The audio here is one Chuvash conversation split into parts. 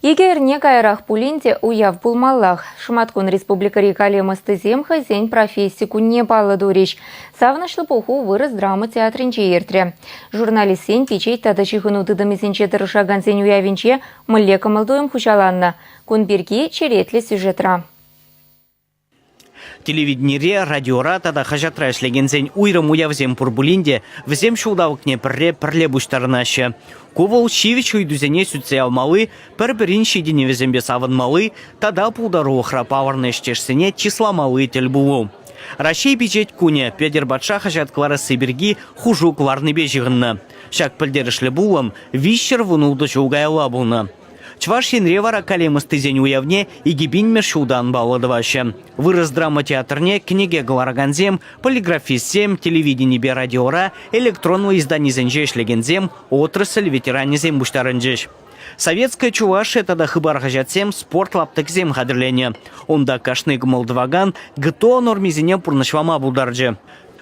Икӗ эрне каярах пулин те уяв пулмаллах. Шӑматкун республикӑри калем ӑстисем хӑйсен професси кунне паллӑ турӗҫ. Савӑнӑҫлӑ пуху вырӑс драма театрӗнче иртрӗ. Журналистсен пичет тата ҫыхӑну тытӑмӗсенче тӑрӑшакансен уявӗнче мӗнле кӑмӑл-туйӑм хуҫаланнӑ? Кун пирки черетлӗ сюжетра. Телевиденире, радиора тата хаҫатра ӗҫлекенсен уйрӑм уявсем пур пулин те вӗсем ҫулталӑкне пӗрре пӗрле пуҫтарӑнаҫҫӗ. Ку вӑл ҫивӗч ыйтусене сӳтсе явмалли, пӗр-пӗрин ҫитӗнӗвӗсемпе савӑнмалли тата пултарулӑхра палӑрнӑ ӗҫтешсене чысламалли тӗл пулу. Раҫҫей пичет кунӗ Петӗр патша хаҫат кӑларасси пирки хушу кӑларнипе ҫыхӑннӑ. Ҫак пӗлтерӗшлӗ пулӑм виҫҫӗр вун ултӑ ҫул каялла пулнӑ. Чӑваш Енре вара калем ӑстисен уявне икӗ пинмӗш ҫултан паллӑ тӑваҫҫӗ. Вырӑс драма театрне кӗнеке кӑларакансем, полиграфистсем, телевиденипе радиора, электронлӑ изданисенче ӗҫлекенсем, отрасль ветеранӗсем пуҫтарӑнчӗҫ. Советская Чувашия тата Хыпар хаҫатсем спорт лаптӑкӗсем хатӗрленӗ. Унта кашни кӑмӑл тӑвакан ГТО нормисене пурнӑҫлама пултарчӗ.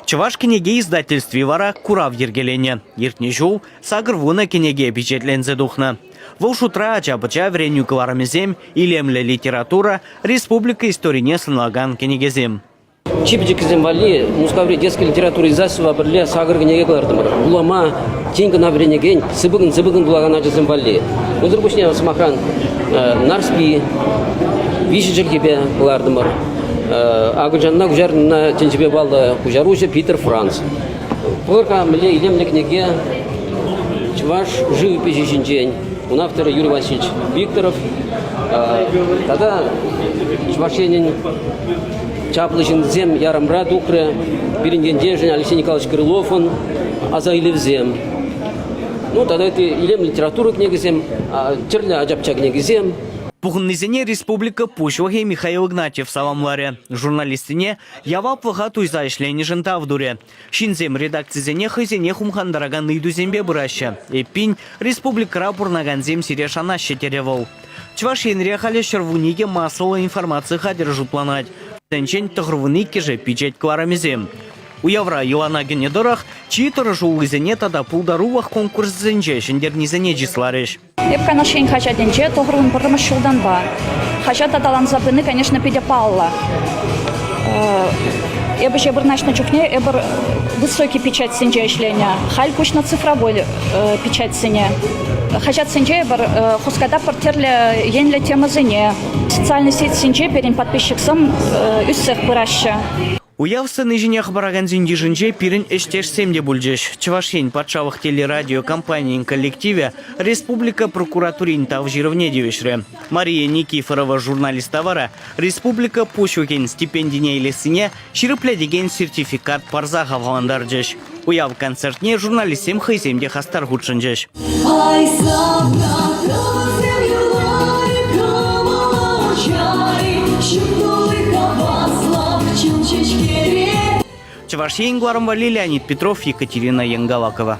Чӑваш кӗнеке издательстви вара курав йӗркеленӗ. Иртнӗ ҫул сакӑр вунӑ кӗнеке пичетленсе тухнӑ. Вӑл шутра ача-пӑча вӗренӳ кӑларӑмӗсем, илемлӗ литература, республика историне сӑнлакан кӗнекесем. Чи пӗчӗккисем валли Мускаври детский литература издательство пӗрле сакӑр кӗнеке кӑлартӑмӑр. Вулама, тин кӑна вӗренекен, сыпӑкӑн-сыпӑкӑн вулакан ачасем валли. Унсӑр пуҫне, сӑмахран, Нарспи, виҫӗ чӗлхепе кӑлартӑмӑр. Акӑлчанла куҫарнӑ тӗнчепе паллӑ куҫаруҫӑ Питер Франц. Пӑр-ха мӗнле илемлӗ кӗнеке Чӑваш шыв ӗпӗчӗ ҫинчен. Ун авторӗ Юрий Васильевич Викторов. Тата Чӑваш Енӗн чаплӑ ҫынсем ярӑмра тухрӗ. Пирӗн ентешӗн Алексей Николаевич Крыловӑн аса илӗвсем. Ну тата ытти илемлӗ литература кӗнекисем, тӗрлӗ ача-пӑча кӗнекисем. Пухӑннисене республика Пуҫлӑхӗ Михаил Игнатьев саламларӗ, журналистсене яваплӑха туйса ӗҫленӗшӗн тав турӗ. Ҫынсем редакцисене хӑйсене хумхантаракан ыйтусемпе пыраҫҫӗ. Эппин, республикӑра пурӑнакансем сире шанаҫҫӗ, терӗ вӑл. Чӑваш Енре халӗ ҫӗрвунникӗ массӑллӑ информаци хатӗрӗ шутланать. Вӗсенчен тӑхӑрвун иккӗшӗ пичет кӑларӑмӗсем. Уявра йӑлана кӗнӗ тӑрӑх чи тӑрӑшуллисене тата пултарулӑх конкурсӗсенче ҫӗнтернисене чысларӗҫ. Эп Канаш ен хаҫатӗнче тӑхӑрмӗн пӗрремӗш ҫултанпа хаҫат аталанса пыни, конечно, питӗ паллӑ. Эпӗ ӗҫе вырнаҫнӑ чухне эпир высокий печатьсенче ӗҫленӗ. Халь куҫнӑ цифровой печатьсене. Хаҫатсенче эпир хуската пӗр тӗрлӗ енлӗ темӑсене социальнӑй сетьсенче пирӗн подписчиксем ӳссех пыраҫҫӗ. Уяв сцени ҫине хӑпаракансен йышӗнче пирӗн ӗҫтешсем те пулчӗҫ. Чӑваш Ен патшалӑх телерадио компанийӗн коллективӗ республика прокуратурин тав ҫырӑвне тивӗҫрӗ. Мария Никифорова журналиста вара республика пуҫлӑхӗн стипендине илессине ҫирӗплетекен сертификат парса хавхалантарчӗҫ. Уяв концертне журналистсем хӑйсем те хастар хутшӑнчӗҫ. Чӑваш Ен Гуарым валли Леонид Петров, Екатерина Янгалакова.